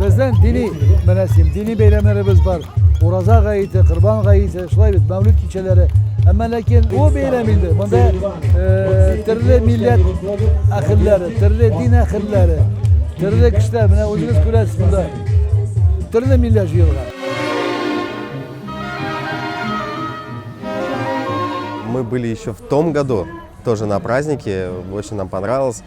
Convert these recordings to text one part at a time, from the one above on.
Безнең дини мәрәсим, дини бәйрәмнәребез бар. Ураза гаете, Кырбан гаете, шулай бит, Мәүлид кичәләре. Әмма ләкин бу бәйрәм инде. Монда э, төрле милләт әхилләре, төрле дин әхилләре, төрле кешеләр, менә үзегез күрәсез монда. Төрле милләт җыелган. Мы были еще в том году, тоже на празднике, очень нам понравилось.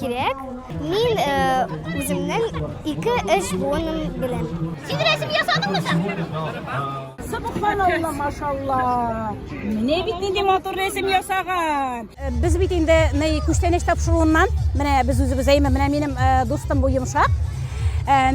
Кирәк. Мин үземнең ике-өч буыным белән. Син рәсем ясадыңмы соң? Субханалла, машалла. Менә бит нинди матур рәсем ясаган. Без бит инде ней күчтәнәч тапшыруыннан, менә без үзебез әйме, менә минем дустым бу йомшак.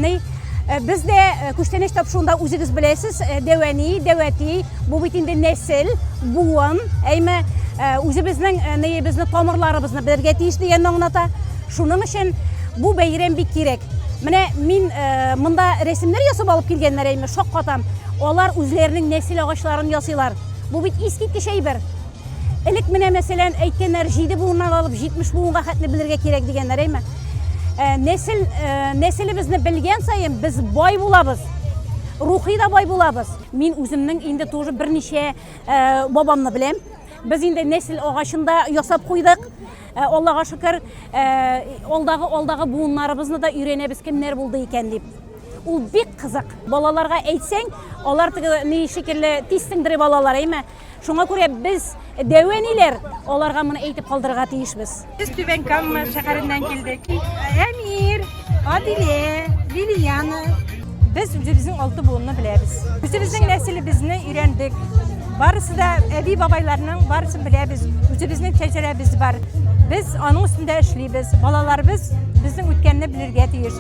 Ней Э, без дә э, күчтәнәч тапшыруында үзегез беләсез, э, дәвәни, дәвәти, бу бит инде нәсел, буын, әйме үзебезнең нәебезне, тамырларыбызны белергә тиеш дигәнне аңлата. Шуның өчен бу бәйрәм бик кирәк. Менә мин монда рәсемнәр ясап алып килгәннәр әйме, шаккатам. Алар үзләренең нәсел агачларын ясыйлар. Бу бит искиткеч әйбер. Элек менә мәсәлән әйткәннәр, 7 буыннан алып 70 буынга хәтле белергә кирәк дигәннәр, әйме? Э, нәсел э, нәселебезне белгән саен без бай булабыз. Рухи да бай булабыз. Мин үземнең инде тоже берничә э, бабамны беләм. Без инде нәсел агачында ясап куйдык. Аллага шөкер, алдагы алдагы буыннарыбызны да өйрәнәбез кемнәр булды икән дип. Ул бик кызык. Балаларга әйтсәң, алар теге ни шикелле тиз сеңдереп алалар, әйме? Шуңа күрә без дәвәниләр аларга моны әйтеп калдырырга тиешбез. Без Түбән Кама шәһәреннән килдек. Әмир, Адиле, Лилияна. Без үзебезнең алты буынны беләбез. Үзебезнең нәселебезне өйрәндек. Барысы да әби бабайларның барысын беләбез. Үзебезнең шәҗәрәбез бар. Без аның өстендә эшлибез. Балаларыбыз безнең үткәнне белергә тиеш.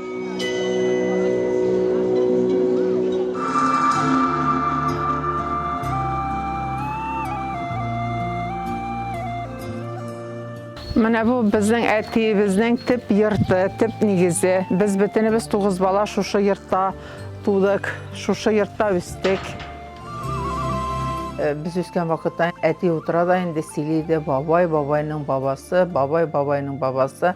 Менә бу безнең әтиебезнең төп йорты, төп нигезе. Без бөтенебез тугыз бала шушы йортта тудык, шушы йортта үстек. Э, без үскән вакытта әти утыра да инде сөйли иде, бабай, бабайның бабасы, бабай, бабайның бабасы.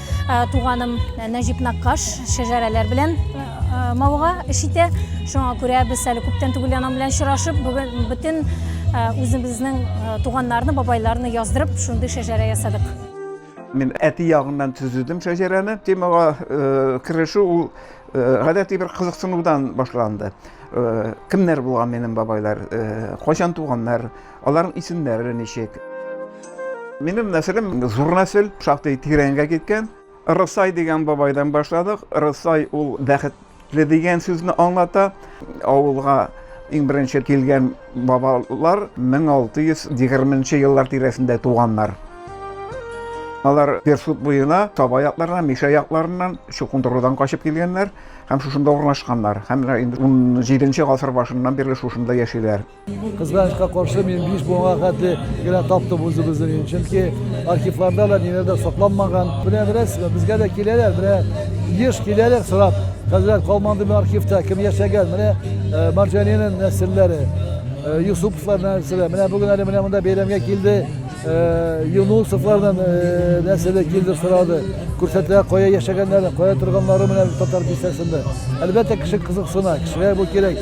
Ә, туганым ә, Нәҗип Наккаш шәҗәрәләр белән ә, ә, мавыга эш итә. Шуңа күрә без әле күптән түгел аның белән очрашып, бүген бөтен ә, үзебезнең ә, туганнарны, бабайларны яздырып, шундый шәҗәрә ясадык. Мин әти ягыннан төзедем шәҗәрәне. Темага э, керешү ул э, гадәти бер кызыксынудан башланды. Э, кемнәр булган минем бабайлар, э, кайчан туганнар, Аларның исемнәре ничек? Минем нәселем зур нәсел, шактый тирәнгә киткән. Рысай дигән бабайдан башладык. Рысай ул бәхетле дигән сүзне аңлата. Авылга иң беренче килгән бабалар 1620 еллар тирәсендә туганнар. Алар Персут буена, Таба якларыннан, Миша якларыннан, Чукындырудан качып килгәннәр һәм шушында урнашканнар. Һәм инде 17 нче гасыр башыннан бирле шушында яшиләр. Кызганычка каршы, мин биш буынга хәтле генә таптым үзебезнең ин. Чөнки архивларда да ниләр дә сакланмаган. Менә беләсезме, безгә дә киләләр, менә еш киләләр сорап. Хәзрәт калманды архивта кем яшәгән? Менә э, Марҗанинең нәселләре, э, Юсуповлар нәселе. Менә бүген әле менә монда бәйрәмгә килде. Э, Юнусовлардан нәселе килде сорады. Күрсәтелә кая яшәгәннәре, кая торганнары менә татар бистәсендә. Әлбәттә кеше кызыксына, кешегә бу кирәк.